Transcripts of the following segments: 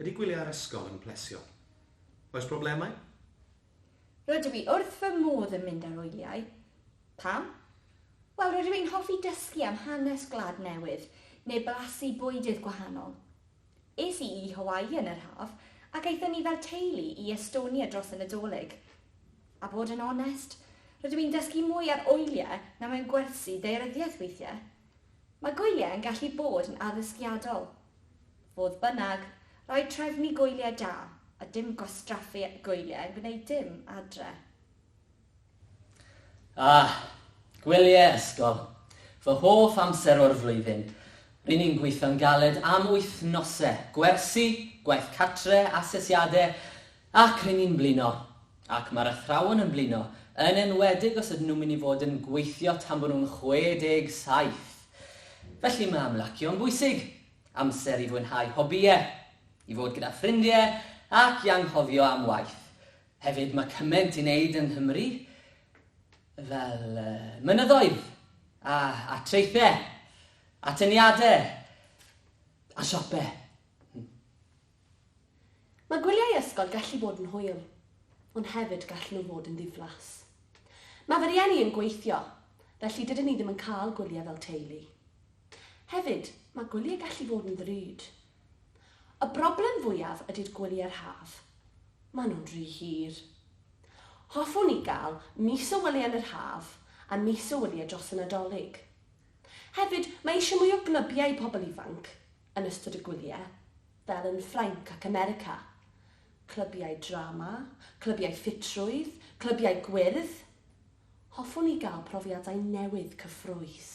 Ydy gwyliau yr ysgol yn plesio? Oes problemau? Rydw i wrth fy modd yn mynd ar wyliau. Pam? Wel, rydw i'n hoffi dysgu am hanes gwlad newydd neu blasu bwydydd gwahanol. Es i i Hawaii yn yr haf ac aethon ni fel teulu i Estonia dros y Nadolig. A bod yn onest, rydw i'n dysgu mwy ar oiliau na mewn gwersi ddaearyddiaeth weithiau. Mae gwyliau yn gallu bod yn addysgiadol. Fodd bynnag, rhaid trefnu gwyliau da, a dim gwastraffu gwyliau yn gwneud dim adre. Ah! Gwyliau ysgol! Fy hoff amser o'r flwyddyn! Ry'n ni'n gweithio'n galed am wythnosau, gwersi, gwaith cartre, asesiadau, ac ry'n ni'n blino! Ac mae'r athrawon yn blino, yn enwedig os ydyn nhw'n mynd i fod yn gweithio tan bod nhw'n 67! Felly mae ymlacio'n bwysig, amser i fwynhau hobïau, i fod gyda ffrindiau ac i anghofio am waith. Hefyd, mae cymaint i wneud yng Nghymru fel mynyddoedd a, a traethau, atyniadau a siopau. Hmm. Mae gwyliau ysgol gallu bod yn hwyl, ond hefyd gallen nhw fod yn ddiflas. Mae fy rieni yn gweithio, felly dydyn ni ddim yn cael gwyliau fel teulu. Hefyd, mae gwyliau gallu fod yn ddrud, Y broblem fwyaf ydy'r gwyliau'r haf. Maen nhw'n rhy hir. Hoffwn i gael mis o wyliau yn yr haf a mis o wyliau dros y Nadolig. Hefyd, mae eisiau mwy o glybiau i pobl ifanc yn ystod y gwyliau, fel yn Ffrainc ac America. Clybiau drama, clybiau ffitrwydd, clybiau gwyrdd. Hoffwn i gael profiadau newydd cyffrous.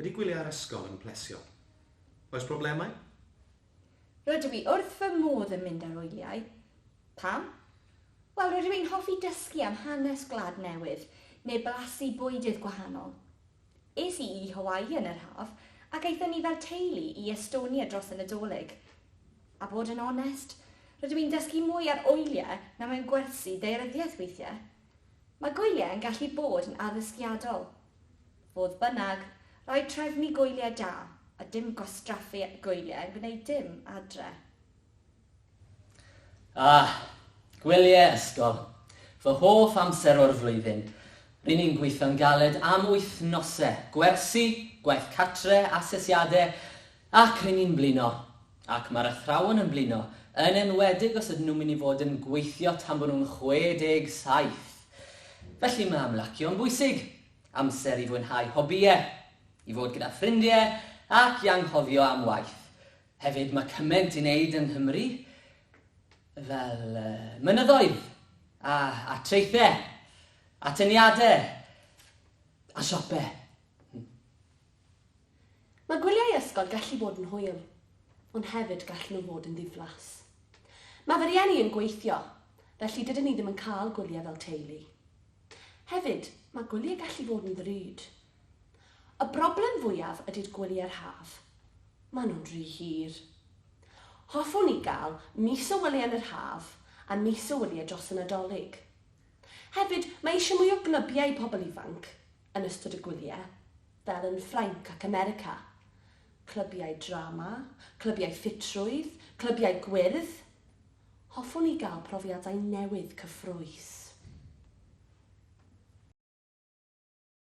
Ydy gwyliau yr ysgol yn plesio? Oes problemau? Rydw i wrth fy modd yn mynd ar wyliau. Pam? Wel, rydw i'n hoffi dysgu am hanes gwlad newydd, neu blasu bwydydd gwahanol. Es i i Hawaii yn yr haf, ac aethon ni fel teulu i Estonia dros y Nadolig. A bod yn onest, rydw i'n dysgu mwy ar oiliau na mewn gwersi ddaearyddiaeth weithiau. Mae gwyliau yn gallu bod yn addysgiadol. Fodd bynnag, rhaid trefnu gwyliau da, a dim gwastraffu gwyliau yn gwneud dim adre. Ah! Gwyliau ysgol! Fy hoff amser o'r flwyddyn! Ry'n ni'n gweithio'n galed am wythnosau, gwersi, gwaith cartre, asesiadau, ac ry'n ni'n blino! Ac mae'r athrawon yn blino, yn enwedig os ydyn nhw'n mynd i fod yn gweithio tan bod nhw'n 67! Felly mae ymlacio'n bwysig, amser i fwynhau hobïau, i fod gyda ffrindiau ac i anghofio am waith. Hefyd, mae cymaint i wneud yng Nghymru fel mynyddoedd a, a traethau, atyniadau a siopau. Mae gwyliau ysgol gallu bod yn hwyl, ond hefyd gallen nhw fod yn ddiflas. Mae fy rhieni yn gweithio, felly dydyn ni ddim yn cael gwyliau fel teulu. Hefyd, mae gwyliau gallu fod yn ddrud, Y broblem fwyaf ydy'r gwyliau'r haf. Maen nhw'n rhy hir. Hoffwn i gael mis o wyliau yn yr haf a mis o wyliau dros y Nadolig. Hefyd, mae eisiau mwy o glybiau i pobl ifanc yn ystod y gwyliau, fel yn Ffrainc ac America. Clybiau drama, clybiau ffitrwydd, clybiau gwyrdd. Hoffwn i gael profiadau newydd cyffrous.